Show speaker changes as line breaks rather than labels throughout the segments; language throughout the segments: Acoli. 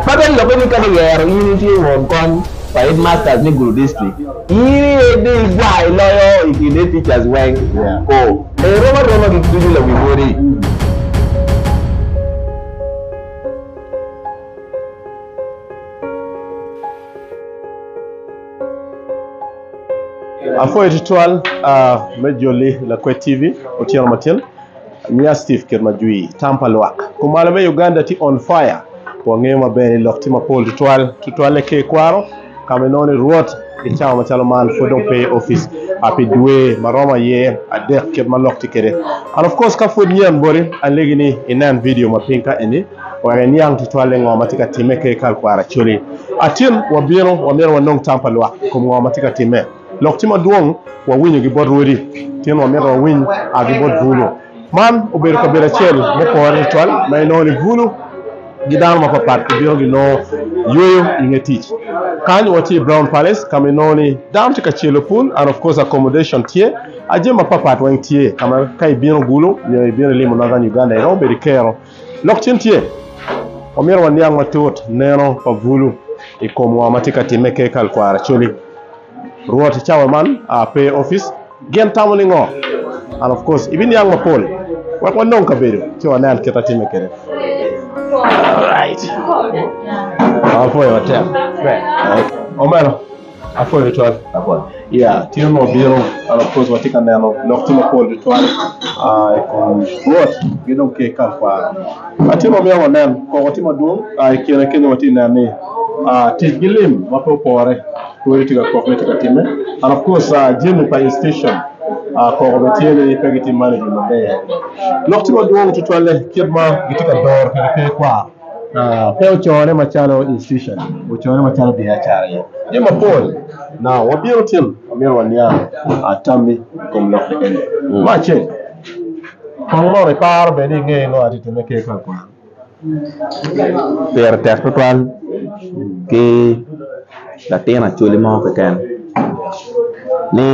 Ka bene lobbe ni ka kiyero in itye won kony pa Headmasters me Gulu District, in aye dong igwar iloyo i kin Headteachers weng. Ko. Erom aroma gik ducu lawi modi.
Apwoyo tutwal me joli Lakwed TV otyeno matin. Nya Steve kit ma jwi tam pa lwak kumalo me Uganda tye on fire. Wangeyo maber ni lok tye mapol tutwal, tutwalle ki i kwaro ka ma inongo ni Rwot i cawa macalo man pud dong pe i opic pi dwe ma romo aye adek kit ma lok tye kwede. And of course ka pud nyen boti, alegi ni inen video ma piny ka eni wek iniang tutwalle ngo ma tye ka timme ka i kal kwaro. Actually, atin wabino wamyero wanong tam pa lwak i kom ngo ma tye ka timme. Lok ci madwong wawinyo gi bot rwodi tin wa mito wawiny a gi bot Gulu. Man obedo kabedo acel mupore tutwal ma inongo ni Gulu gi dano ma pat pat gi bino gi nongo yweyo inge tic. Kany watye i Brown Palace kama inongo ni dano tye ka celo pul and of course accommodation tye a jami ma pat pat weng tye kama ka ibino Gulu nyo ibino ilimo Northern Uganda inongo bedo ikero Lok cen tye, wamito waniang matut neno pa Bulu i kom ngo ma tye ka timme ki kal kwaro Acholi. Rwot i cawa man a pe i opic, gin tamo ni ngo? And of course ibiniang mapol wek wanong kabedo ci wanen kit atimme kede. Alright. Apuoyo matek. Omeno. Apwoyo tutwal ya tye ma obino an akoc watye ka neno lok tye mapol tutwal i kom rwot ki dong ki kal kwaro ma tye ma myero wanen koko tye madwong i kine kenyo watye ka neno ni tic ki lim ma pe opore pwod tye ka kok ni tye ka time and of course jami pa institution koko bene tye ni pe gitye management maber lok tye madwong tutwalle kit ma gitye ka doro kwede pe kwaro. Pe ocorone macalo institution, ocorone macalo biacara aye. Tye mapol ma wabino timo ma myero waniang tammi i kom lok kekeni. Me acel, kong mono iparo bene ni ingeyo ngo ma tye ka timme ki i kom kwan.
Pire tek tutwal ki latin Acholi mo keken ni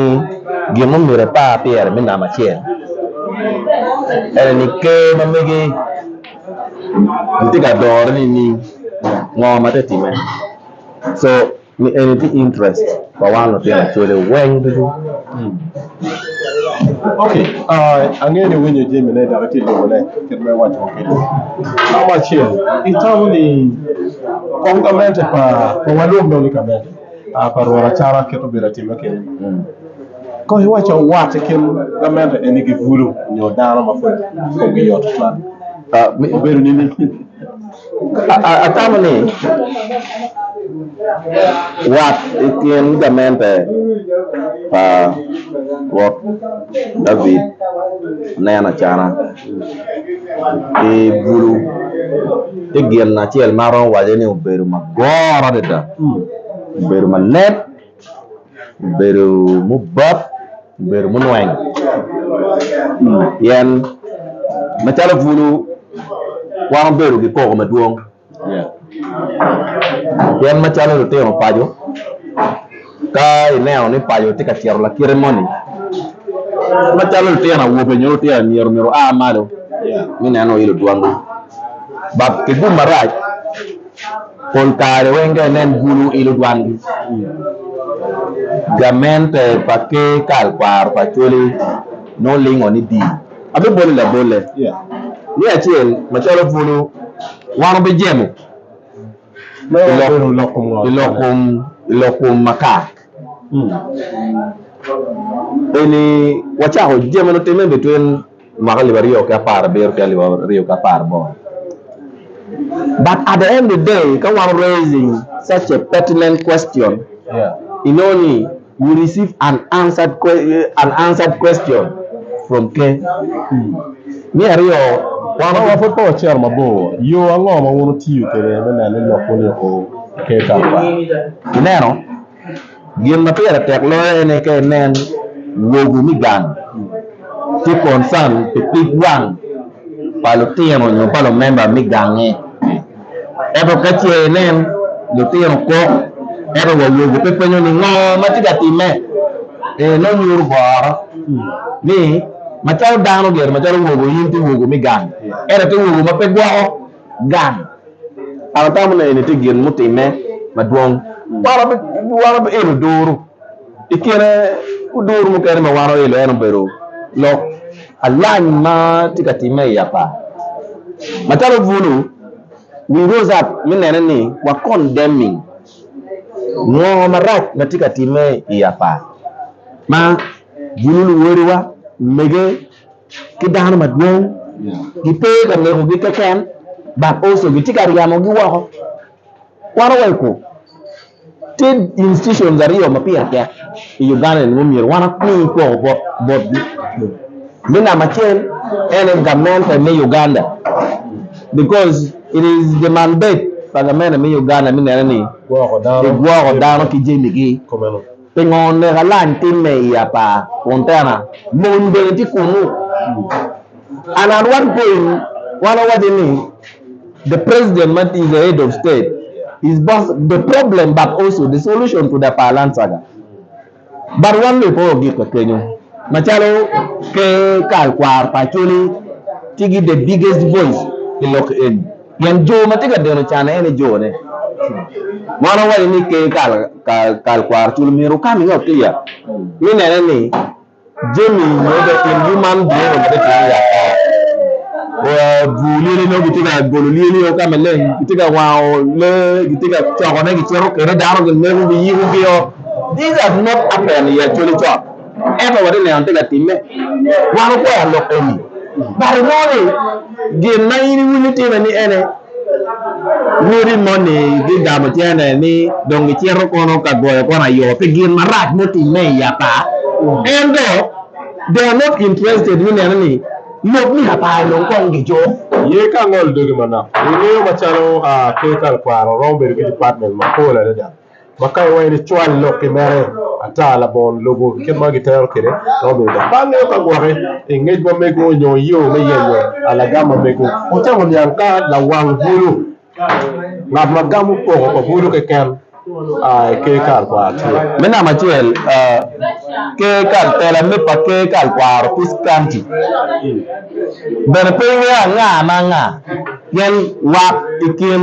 gin ma myero epar pyere me namba acel ene ni Ker ma mege Gitye ka dore nining? Ngo ma tye ka timme? Co ni eni tye interest pa wan lutino cwale weng ducu.
Ok angeyo ni iwinyo jami ne dok itye ka lubo ne kit ma iwaco wa kwede. Namba acel itamo ni kong gamente pa kong alwong dong ni gamente. aa pa Rwot acalo akit obedo atime keni. Kong iwac awat i kin gamente eni gibulu nyo dano ma pud komgi yot tutwal. Ah, mi- Obedo nini? A- a- Atamo
ni wat i kin gamente pa Rwot David aneno acana. pi bulu tye gin acel ma aromo waco ni obedo magoro adada obedo maleb obedo mubap obedo munweng pien macalo bulu wan wabedo ki koko madwong. Pien macalo lutino paco ka ineno ni paco tye ka cito lakite moni macalo lutino awobe nyo lutino anyira myero gua malo me neno i ludwongi dok pi gum marac pol kare weng ka inen bulu i ludwangi gamente pa ker kal kwaro pa Acholi nongo lingo ni dii. Abiboli labolle ni acel macalo bulu wan obijemo i lok kom makar eni. Wacako jemo nitimme bitwin mwaka alip aryo ki apar abiro ki alip aryo ki apar boro but at the end of the day ka wan raising such a pertinent question inongo ni You receive an unanswered question from Ker. Me aryo, Kwano wa pud
pe wacito mabor, yo ango ma wun wutiyo kwede me neno ni lok wun iko Ker Kalabang? Ineno,
gin ma pire tek loyo en aye ka inen wogo me gang tye concern pi pig wang pa lutino nyo pa lumemba me gange. Ento ka ce inen lutino kok, ento wa awobi pe penyo ni ngo ma tye ka timme, ee nongo nyuto boro ni macalo dano gire macalo wogo in tye wogo me gang ento tye wogo ma pe gwoko gang. An atamo ni eni tye gin mutimme madwong. Wan wabiilo duru. I kine odur mukene ma wan oilo en obedo lok alany ma tye ka timme i Yapa. Macalo obulu, we rose up me nene ni wa condemning ngo marac ma tye ka timme i Yapa ma bulu luwodiwa, mege ki dano madwong gipe ka nekogi keken but also gitye ka ryamogi woko. Wan oweko tye institutions aryo ma pire tek i Uganda ni myero wan wami kwoko bot botgi. Me namba acel en aye gamente me Uganda because it is the mandate pa gamente me Uganda me nene ni kigwoko dano ki jamigi. Pingo nek alany timme i apar kun tena? Mony bene tye kunnu. And at one point wan wawaco ni the president ma is the head of state is both the problem but also the solution to the palan saga. But wan loyo pe wagikke kenyo. Macalo Ker Kal Kwar pa Acholi tye gi the biggest voice i lok eni. Pien jo ma tye ka deno canne en ni jone. Mon owaco ni kee kal kal kwaro cul myero wukam iye otiya ni nene ni jami nyo be in gi man bino ma tye tye ya ka bur lyeli nyo gitye ka golo lyeli o ka maleng gitye ka wango le gitye ka coko ne gicito kene dano gineko giyiko gi o these are not happen i actually cot Ento watye neno tye ka timme. Wan wukwero lok eni. But inongo ni gin ma in iwinyo itime ni ene lwodi moni gigamo cene ni dong gicito kono ka goyo kono ayo pi gin marac mutimme i apa. Ento they are not interested me neno ni lok me apa dong kong gijuk. Ye ka angolo
dogi manok, ingeyo macalo aa ker ka lakwaro romo bedo ki department mapol adada. ma ka iwaco ni cwal lok ki mere ata labongo lubo kit ma gitero kwede ma obedo dok bang ngeo ka gwoki i ngec ma mego nyo i yo me yenyo alagam ma mego. Wucamo niang ka lawang bulu, ngat ma gamo poko pa bulu keken, a i Ker Kal Kwaro tye. Me namba acel,
Ker Kal, tela me pa Ker Kal Kwaro, Peace County, bene pe ingeyo anga ma anga pien wat i kin.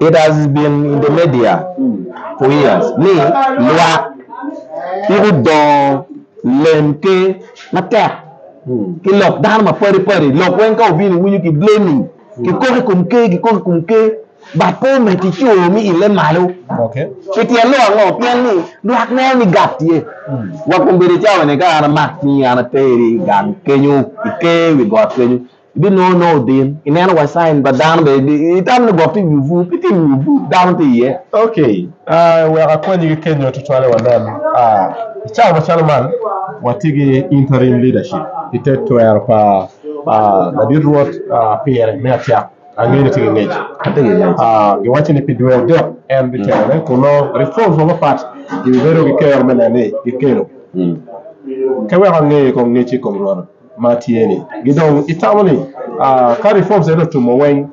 It has been in the media for years ni lwak i gudongo lem ke matek ki lok dano mapadi padi lok weng ka wubino iwinyo ki blaming ki koko i kom ker ki koko i kom ker but pe omiti co mi ile malo pi tyen
lok ango
pien ni lwak neno ni gap tye wa kombedo cawa ni ka an amak cingi an ateri gang kenyo i ker wi got kenyo Ibinongo nongo din. Ineno wa sign pa dano be itamo ni gwok tye i wi obwur, pe tye i wi obwur, dano tye iye. Ok,
wek akonyi ki kenyo tutwalle wanen. I cawa macalo man, watye ki interim leadership pi te twero pa ladit Rwot pire me acak. Angeyo ni itye ki ngec. Atye ki ngec. Giwaco ni pi dwe adek en bitelone, kun nongo reforms mapatpat gibibedo ki kero me neno ni gikelo. Ka weko ange kong ngecci i kom Rwot. ma tye ni gi dong itamo ni ka reforms ene otumo weng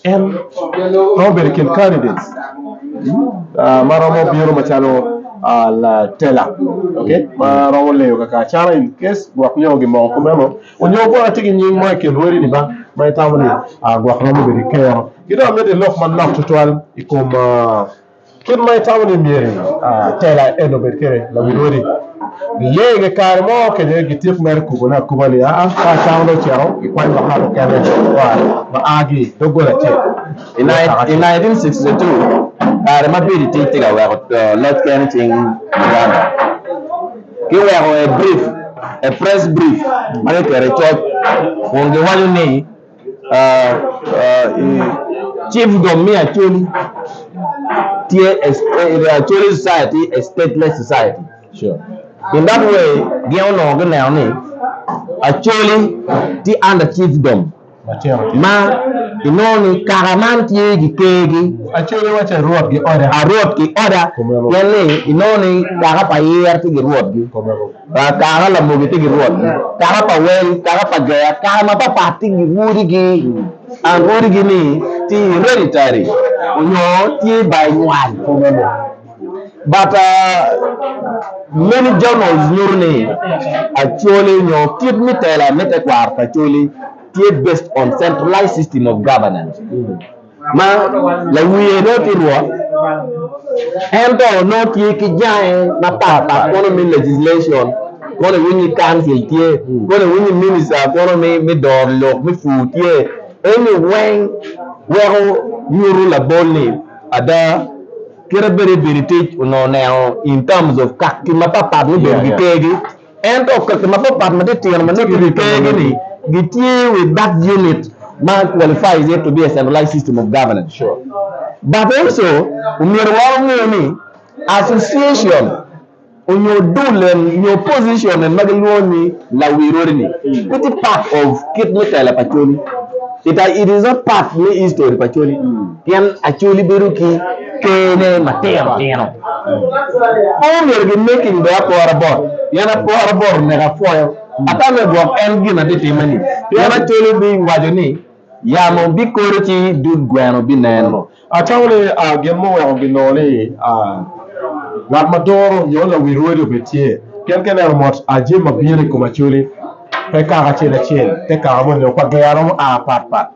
en romo bedo kin candidates ma romo bino macalo latela okay ma romo leyo kaka acana in case gwok nyo gi moko kumeno onyo gwok atye gi nying mo i kin lweri ni ba ma itamo ni gwok romo bedo ikero ki dong amiti lok manok tutwal i kom Kit ma itamo ni myero tela eni obed kwede, lawil odi giye inge kare mo kenyo gityek mere gikubone akuba ni aa, ka acama dong oceko gikwany lok ngat mukene ma agi i doggola acel.
I 1962, kare ma bedo i tic tye ka weko loc kene i cing Uganda, giweko e press brief ma kiketo i coc kun giwaco ni, Chiefdom me Acholi society tye a stateless society
in that way
gin onongo gineno ni Acholi tye under chiefdom ma inongo ni kaka man tye gikergi arwot
ki order
pien ni inongo ni kaka pa yer tye ki rwotgi. Aa, kara lamogi tye ki rwot, kara pa wel, kara pa ger, kara mapatpat tye ki rwodigi. Aa, rwodigi ni tye i hereditary onyo tye by nywal two me moo. But aa, many journals nyuto ni Acholi onyo kit me tela me tekwaro pa Acholi tye based on centralized system of governance. ma lawiye nongo tye rwot, en to nongo tye ki jange mapat pat kono me legislation, kono iwiny ni council tye, kono iwiny ni minister kono me doro lok me pur tye, eni weng weko nyuto labol ni ada kite bedo ibedi tic onongo oneno in terms of kaki mapat pat mubedo ki kergi. Ento kaki mapapat ma titino ma nongo kibito monogi gitye i wi bak unit ma qualifies it to be a centralized system of governance. But also, omyero wa onge ni association onyo dul en nyo position en ma gilwongo ni lawirori ni pe tye part of kit me telo pa coli. It is not part me history pa coli. Pien Acholi bedo ki kene matino tino, pe omyero ginek i nge apora bot, pien apora bot oneko apwoyo, ata me gwok en gin atitimme-ni. Pien Acholi biwaco ni, Yamo bikodo ci dud gweno binen. Acholi,
gin muweko gilor ni ngat ma toro nyo lawi rwodi obed tye, pien ka ineno mot jami ma bino i kom Acholi, pe kaka acel acel, te kaka moni dong pa gero ma a pat pat.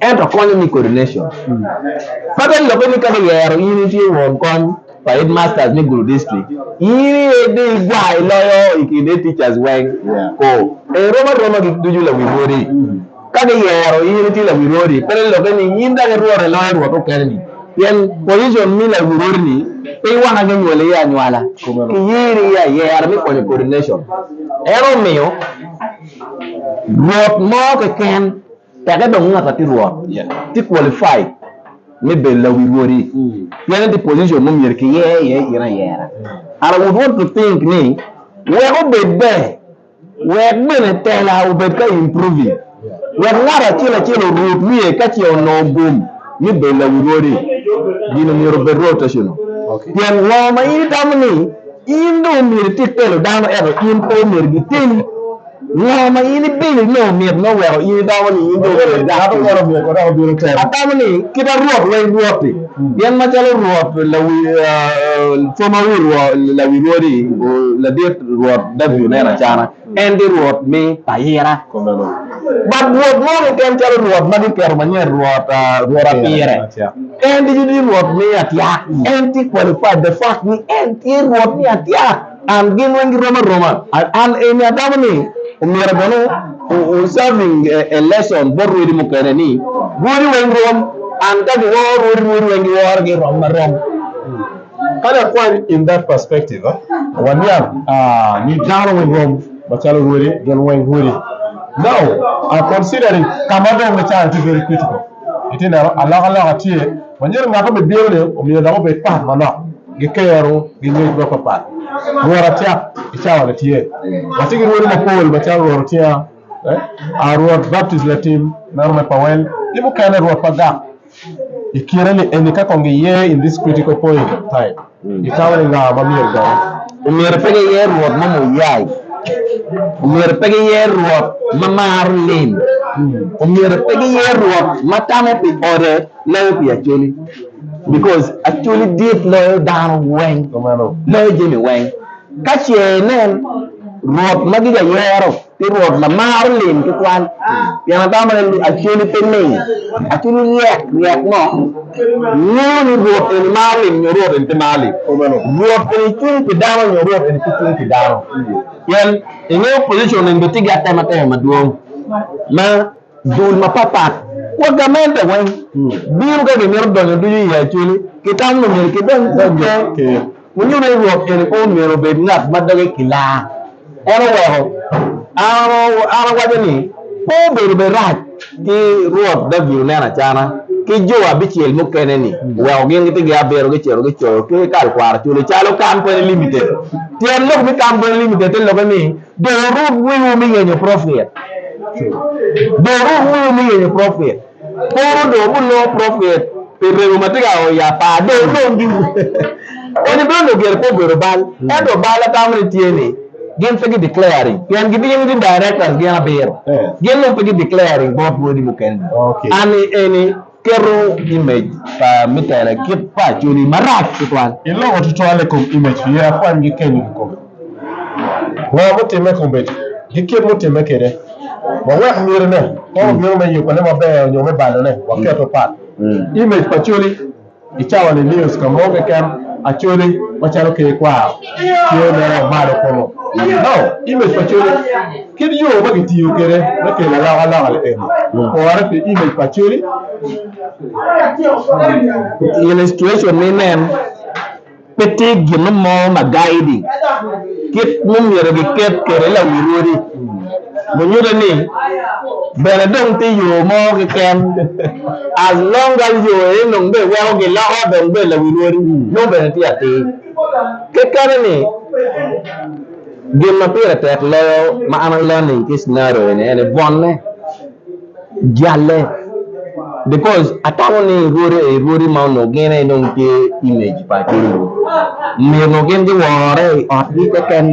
Ento konyo ni coordination ma dong lubbe ni ka giyero in itye won kom pa headmasters me Gulu District, in aye dong igwar iloyo i kin head teachers weng. Ko erom aroma gik ducu lawi rwodi. Ka giyero in itye lawi rwodi, pe dong lubbe ni in dong irwot iloyo rwot mukene-ni pien position me lawi rwodi-ni pe waka kinywoli iye anywala, kiyeri iye ayera me konyo coordination. En omiyo rwot mo keken. Teke dong ngat ma tye rwot tye qualified me bedo lawi rwodi pien en tye i position ma myero kiyer iye in ayera. And I would want to think ni wek obed ber, wek bene tela obed ka improving, wek ngat acel acel orut wiye ka ce onongo gum me bedo lawi rwodi, gino myero obed rotational. Pien ngo ma in itamo ni in dong myero itit telo dano ento in pe omyero giteli? Ngo ma in ibino inongo mit me weko in iromo ni in dong obedo dag kodi? Atamo ni kite Rwot wa in Rwot-ti, pien macalo Rwot coma wi lawi rwodi ladit Rwot Daudi oneno acana, en tye Rwot me payira. Bat Rwot mo keken calo Rwot ma giketo manyen Rwot wa pire. En ducu tye Rwot me atyak. En tye qualified the fact ni en tye Rwot me atyak. An gin weng girom aroma. An eni agamo ni omyero bene o serving a lesson bot rwodi mukene ni rwodi weng rom. An ka giworo rwodi, rwodi weng giworo gi rom arom.
Kadi akwany in that perspective, waniang ni dano weng rom macalo rwodi, gin weng rwodi. Now considering kama adong me caro tye very critical. Itye neno alokaloka tye manyodo ngat obi bino ni omiyo dok obed pat manok gikero gi ngec ma papat rwot acak icawa ni tye watye gi rwodi mapol macalo rwot otinga a rwot baptist latim meno me powel ki mukene rwot pagak ikine ni eni ka kong giye in this critical point time. Gitamo ni nga ma myero odong? Omyero pe giyer
rwot mo muyai. Omyero pe giyer rwot ma maro lim. Omyero pe giyer rwot ma tamo pi ode loyo pi Acholi. Because Acholi dit loyo dano weng, loyo jami weng. Ka ce inen rwot ma gijayero. Pi Rwot lamaro lim ki kwan, pien atamo ni acoli pe ling. Acoli ryek ryek mo ngeyo ni Rwot eni maro lim nyo Rwot eni pe maro lim. Rwot eni cung pi dano nyo Rwot eni pe cung pi dano. Pien i nge opposition eni bene tye ki atema tema madwong ma dul mapat pat wa gamente weng bino ka gimito donyo ducu i acoli. Kitamo ni myero kidonyo ducu i ker. Winyo ni Rwot en kong myero obed ngat ma doge kilar, en oweko an awaco ni, Pe obedo bene rac ki Rwot David onen acana ki jo abicel mukene ni oweko gin gitigi abiro gicito gicoyo ki kalkwaro culi calo Kampene Limited. Tyen lok me Kampene Limited te lokke ni Dong wuruk wiwu me yenyo profit. Pol onongo gulongo profet pi remo ma tye ka o i apar, dong olomgi. Onyo bene onongo gire pe obedo bal. Ento bal atamo ni tye ni gin pe gi declaring pien gibino ki directors gin abiro. Gin dong pe gi declaring bot wodi mukene. Anni eni keto image pa me tela kit pa acholi marac tutwal. Iloko tutwal i kom
image pien akwany gi kenyo kikome. Ngo mutimme i komedi? Ki kit mutimme kwede? Wawek mitine ka wabino me yubone maber nyo me balone, waketo pat. Image pa Acholi I cawani news ka mo keken Acholi macalo Ker Kwaro tye mere malo kunu. No. Image pa Acholi Kit yo ma kitiyo kwede me kelo alokaloka ni eni opore pi image pa Acholi.
Illustration ni nen. Pe tye gin mo ma gayi di kit mumyero gi ket kede lawi rwodi. Munyute ni bene dong tye yo mo keken as long gal yo eni dong be weko gi loko dong be lawi rwodi nongo bene tye atir. Kekene ni gin ma pire tek loyo ma an aneno ni tye scenario eni ene bwonne. jalle because atamo ni rwodi eni rwodi ma onongo gin aye nongo tye image pa atye lum myero onongo gin giwore i otgi keken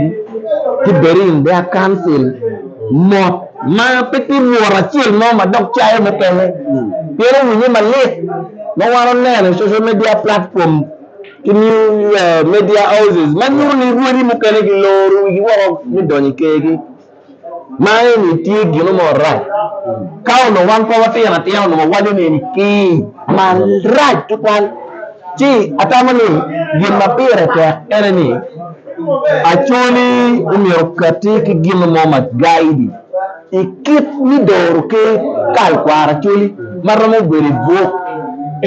ki bedi in their council mot ma pe tye lworo acel mo ma dok cayo mukene pien owinye malit ma wan oneno i social media platform ki new uh, media houses ma nyuto ni rwodi mukene giloro wigi woko me donyo i kergi Ma eni tye gino marac. Ka onongo wan pe watino atina onongo wawaco ni eni kii marac tutwal. Ci atamo ni gin ma pire tek ene ni acoli omyero okati ki gino mo ma gaidi i kit me doro ki kal kwaro acoli ma romo bedo i buk.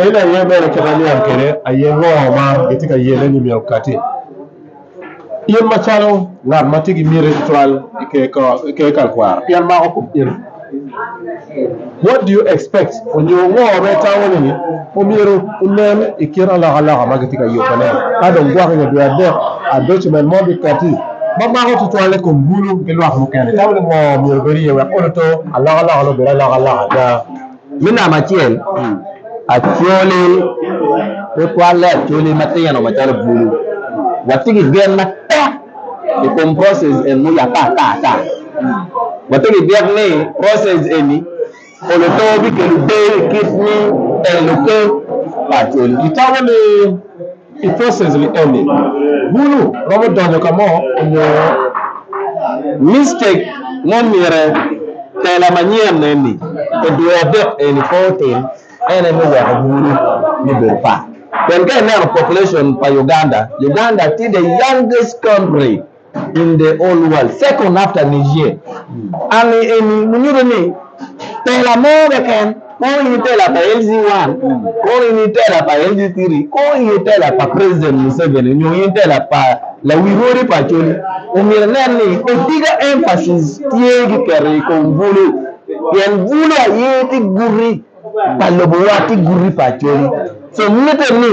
En aye
bene kit ma niang kwede aye ngo ma gitye ka yene ni myero okati. In macalo ngat ma tye ki miti tutwal i ker tekwaro pien mako kom in, what do you expect onyo ngo ma itamo ni omyero onen i kin alokaloka ma gitye ka yubbe ne? Ka dong gwok nyo dwe adek a document mo biketi ma mako tutwal i kom bulu ki lwak mukene, itamo ni ngo myero obed iye wek olo to alokaloka ni obed alokaloka ada? Me namba acel,
acholi tutwalle acholi matino macalo bulu. Watye ki gen matek i kom process eni muye ata ata ata. Watye ki byek ni process eni olo too bikelo deyo i kit me telo ker pa acholi.
I process ni eni, bulu romo donyo ka mo onyo mistake
mo myere tela manyen eni e dwe adek eni pe otim en ene weko bulu ni bedo part. Pien ka ineno population pa Uganda, Uganda tye the youngest country. in the old world second after Niger Army eni munyuto ni tela mo keken kong in itela pa LG one kong in itela pa LG three kong in itela pa president Museveni nyo in itela pa lawi rwodi pa Acholi omyero inen ni otika emphasis tye kiketo i kom bulu pien bulu aye tye guti pa lobowa ki guti pa Acholi so mitte ni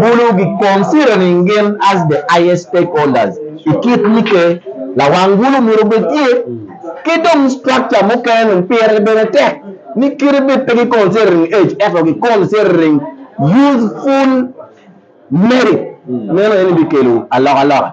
bulu gi considering gin as the highest stakeholders i kit mitte lawang bulu myero obed tye ki dong structure mukene dong pire bene tek ni kite bed pe gi considering age ento gi considering youthful merit meno eni bikelo alokaloka.